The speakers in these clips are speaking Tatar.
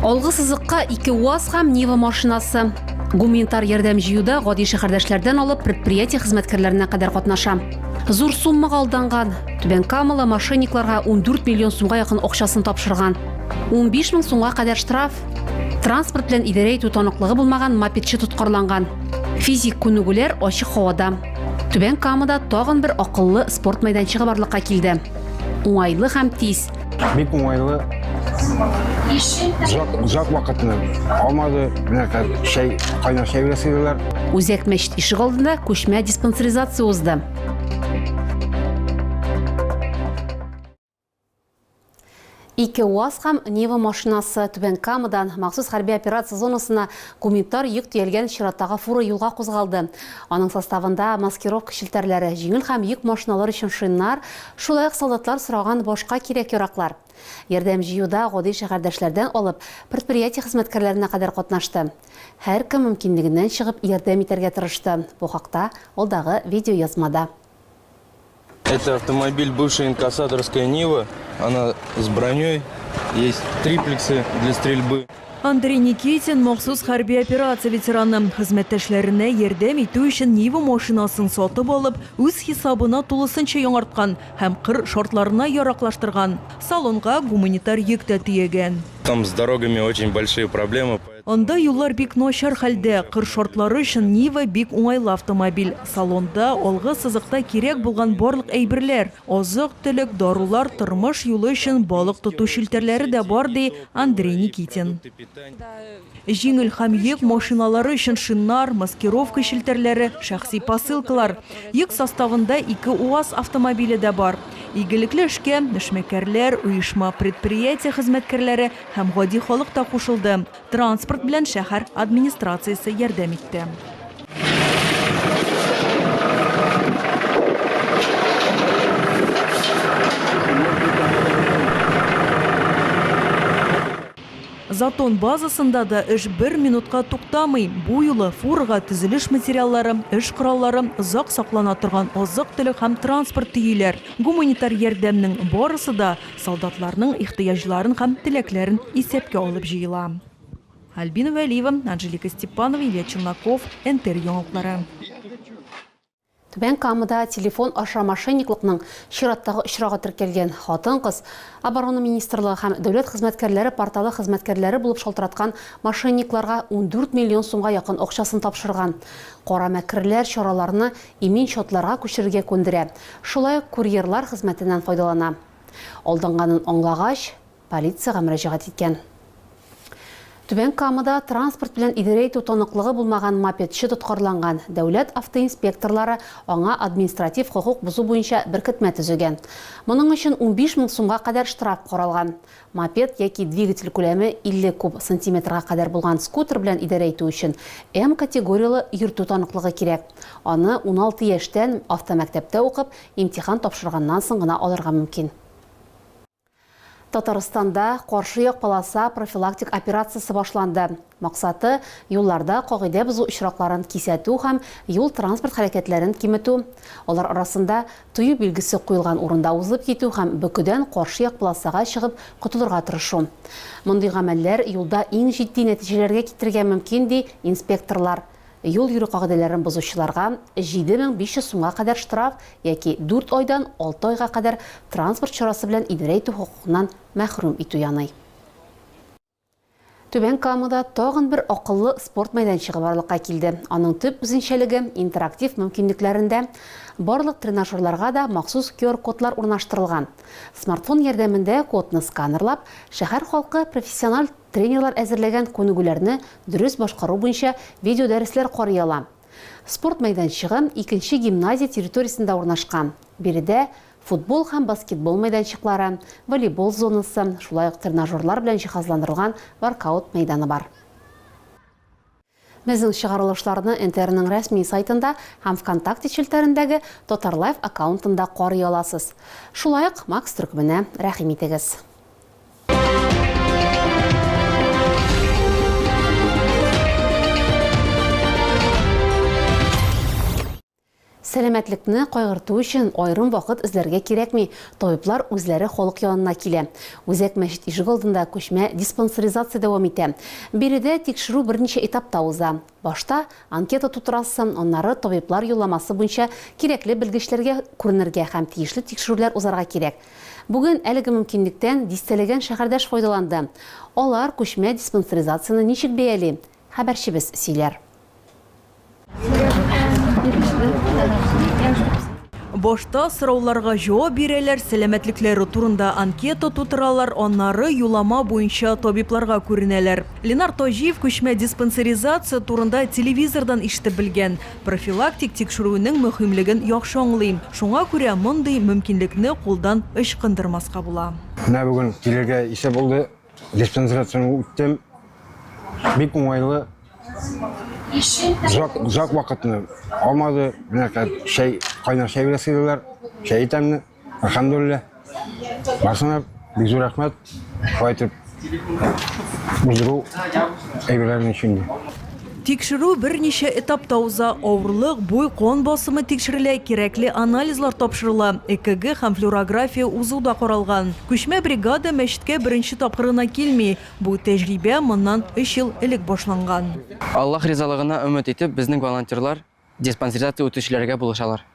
Алгы сызыкка ике УАЗ һәм Нива машинасы. Гуманитар ярдәм җыюда гади шәһәрдәшләрдән алып предприятие хезмәткәрләренә кадәр катнаша. Зур суммага алданған. Түбән Камала мошенникларга 14 миллион сумга якын акчасын тапшырган. 15 мең сумга кадәр штраф. Транспорт белән идарә итү таныклыгы булмаган мопедчы тоткарланган. Физик күнегүләр ачык һавада. Түбән Камада тагын бер акыллы спорт мәйданчыгы барлыкка килде. Уңайлы һәм тиз. Бик уңайлы. Озак, озак вакытны алмады. Менә хәзер чәй, кайнар чәй белән сыйлыйлар. Үзәк мәчет ишек алдында күчмә диспансеризация узды. Ике УАЗ һәм Нива машинасы, Түбән Камадан, махсус хәрби операция зонасына гуманитар йөк төялгән чираттагы фура юлга кузгалды. Аның составында маскировка челтәрләре, җиңел һәм йөк машиналары өчен шиннар, шулай ук солдатлар сораган башка кирәк-яраклар. Ярдәм җыюда гади шәһәрдәшләрдән алып, предприятие хезмәткәрләренә кадәр катнашты. Һәркем мөмкинлегеннән чыгып ярдәм итәргә тырышты, бу хакта алдагы видеоязмада. Это автомобиль бывшая инкассаторская Нива. Она с броней. Есть триплексы для стрельбы. Андрей Никитин махсус хәрби операция ветераны хезмәттәшләренә ярдәм итү өчен Нива машинасын сатып алып, үз хисабына тулысынча яңарткан һәм кыр шартларына яраклаштырган. Салонга гуманитар йөк тә төягән. Там с дорогами очень большие проблемы. Анда юллар бик начар хәлдә, кыр шартлары өчен Нива бик уңайлы автомобиль. Салонда, алгы сызыкта кирәк булган барлык әйберләр, азык-төлек, дарулар, тормыш юлы өчен балык тоту челтәрләре дә бар, ди Андрей Никитин. Җиңел һәм йөк машиналары өчен шиннар, маскировка челтәрләре, шәхси посылкалар. Йөк составында ике УАЗ автомобиле дә бар. Игелекле эшкә, эшмәкәрләр, оешма-предприятие хезмәткәрләре, Һәм гади халык та кушылды. Транспорт белән шәһәр администрациясе ярдәм итте. Затон базасында да эш бер минутка туктамый. Бу юлы фурага төзелеш материаллары, эш кораллары, озак саклана торган азык-төлек һәм транспорт төйиләр. Гуманитар ярдәмнең барысы да Солдатларның ихтыяҗларын һәм теләкләрен исәпкә алып җыела. Альбина Вәлиева, Анжелика Степанова, Илья Челноков, НТР яңалыклары. Түбән Камада телефон аша мошенниклыкның чираттагы очрагы теркәлгән. Хатын-кыз Оборона министрлыгы һәм Дәүләт хезмәткәрләре порталы хезмәткәрләре булып шалтыраткан мошенникларга ундүрт миллион сумга якын акчасын тапшырган. Кара мәкерләр чараларны Имин счетларга күчерергә күндерә, шулай ук курьерлар хезмәтеннән файдалана. Алданганын аңлагач, полициягә мөрәҗәгать иткән. Түбән Камада транспорт белән идарә итү таныклыгы булмаган мопедчы тоткарланган, дәүләт автоинспекторлары аңа административ хокук бозу буенча беркетмә төзегән. Моның өчен унбиш мең сумга кадәр штраф каралган. Мопед яки двигатель күләме 50 куб сантиметрга кадәр булган скутер белән идарә итү өчен М категорияле йөртү таныклыгы кирәк. Аны уналты яшьтән, автомәктәптә укып, имтихан тапшырганнан соң гына алырга мөмкин. Татарстанда каршы як полоса профилактик операциясе башланды. Максаты, юлларда кагыйдә бозу очракларын кисәтү һәм юл-транспорт хәрәкәтләрен киметү, алар арасында тыю билгесе куелган урында узып китү һәм бөкедән каршы як полосага чыгып котылырга тырышу. Мондый гамәлләр юлда иң җитди нәтиҗәләргә китерергә мөмкин, ди инспекторлар. Юл йөрү кагыйдәләрен бозучыларга 7500 сумга кадәр штраф яки дүрт айдан алты айга кадәр транспорт чарасы белән идарә итү хокукыннан мәхрүм итү яный. Түбән Камада тагын бер акыллы спорт мәйданчыгы барлыкка килде. Аның төп үзенчәлеге, интерактив мөмкинлекләрендә. Барлык тренажерларга да махсус QR-кодлар урнаштырылган. Смартфон ярдәмендә кодны сканерлап, шәһәр халкы профессиональ тренерлар әзерләгән күнегүләрне дөрес башкару буенча видеодәресләр карый ала. Спорт мәйданчыгы икенче гимназия территориясендә урнашкан. Биредә Футбол һәм баскетбол мәйданчыклары, волейбол зонасы, шулай ук тренажерлар белән җиһазландырылган воркаут мәйданы бар. Безнең чыгарылышларны НТРның рәсми сайтында һәм ВКонтакте челтәрендәге Татарлайв аккаунтында карый аласыз. Шулай ук Макс төркеменә рәхим итегез. Сәламәтлекне кайгырту өчен аерым вакыт эзләргә кирәкми, табиблар үзләре халык янына килә. Үзәк мәчет ишегалдында күчмә диспансеризация дәвам итә. Биредә тикшерү берничә этапта уза. Башта анкета тутырасы, аннары табиблар юлламасы буенча кирәкле белгечләргә күренергә һәм тиешле тикшерүләр узарга кирәк. Бүген әлеге мөмкинлектән дистәләгән шәһәрдәш файдаланды. Алар күчмә диспансеризацияне ничек бәяли? Хәбәрчебез сөйләр. Башта сорауларга җавап бирәләр, сәламәтлекләре турында анкета тутыралар, аннары юлама буенча табибларга күренәләр. Ленар Таҗиев күчмә диспансеризация турында телевизордан ишетеп белгән. Профилактик тикшерүнең мөһимлеген яхшы аңлый. Шуңа күрә мондый мөмкинлекне кулдан ычкындырмаска була. Менә бүген килергә исә булды. Диспансерацияне үттем. Бик уңайлы. Зак, зак вакытны алмады. Менә чәй, кайнар чәй белән сыйлыйлар. Чәй итәмне. Әлхәмдулилла. Барсынар, бик зур рәхмәт. Шулай итеп, уздыру әйберләрен өчен. Тикшерү берничә этапта уза, авырлык, буй, кан басымы тикшерелә, кирәкле анализлар тапшырыла, ЭКГ һәм флюорография узу да каралган. Күчмә бригада мәчеткә беренче тапкыр гына килми. Бу тәҗрибә моннан өч ел элек башланган. Аллаһ ризалыгына өмет итеп, безнең волонтерлар Диспансеризация үтүчеләргә булышалар.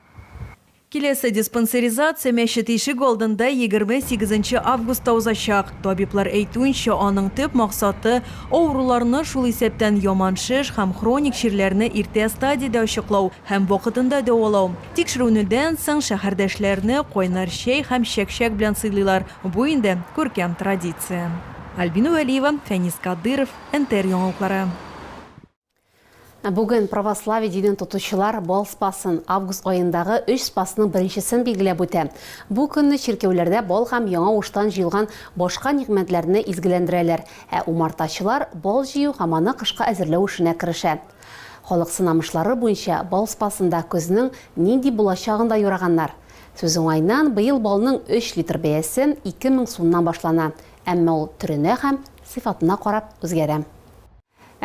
Киләсе диспансеризация мәчет ишеге алдында егерме сигезенче августта узачак. Табиблар әйтүенчә, аның төп максаты, авыруларны, шул исәптән яман шеш һәм хроник чирләрне иртә стадиядә ачыклау һәм вакытында дәвалау. Тикшерүнедән соң шәһәрдәшләрне кайнар чәй һәм чәк-чәк белән сыйлыйлар, бу инде күркәм традиция. Альбина Вәлиева, Фәнис Кадыйров, НТР яңалыклары. Ә бүген православие динен тотучылар Бал Спасын, август аендагы өч Спасның беренчесен билгеләп үтә. Бу көнне чиркәүләрдә бал һәм яңа уштан җыелган башка нигъмәтләрне изгеләндерәләр, ә умартачылар бал җыю һәм аны кышка әзерләү эшенә керешә. Халык сынамышлары буенча, Бал Спасында көзнең нинди булачагын да юраганнар. Сүз уңаеннан, быел балның өч литр бәясе ике мең сумнан башлана, әмма ул төренә һәм сыйфатына карап үзгәрә.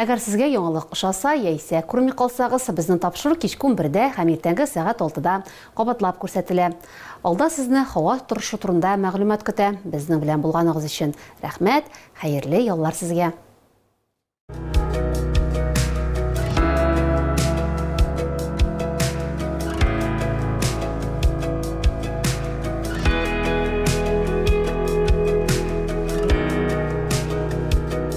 Әгәр сезгә яңалык ошаса, яисә күрми калсагыз, безнең тапшыру кичке унбердә һәм иртәнге сәгать алтыда кабатлап күрсәтелә. Алда сезне һава торышы турында мәгълүмат көтә. Безнең белән булганыгыз өчен рәхмәт, хәерле яллар сезгә!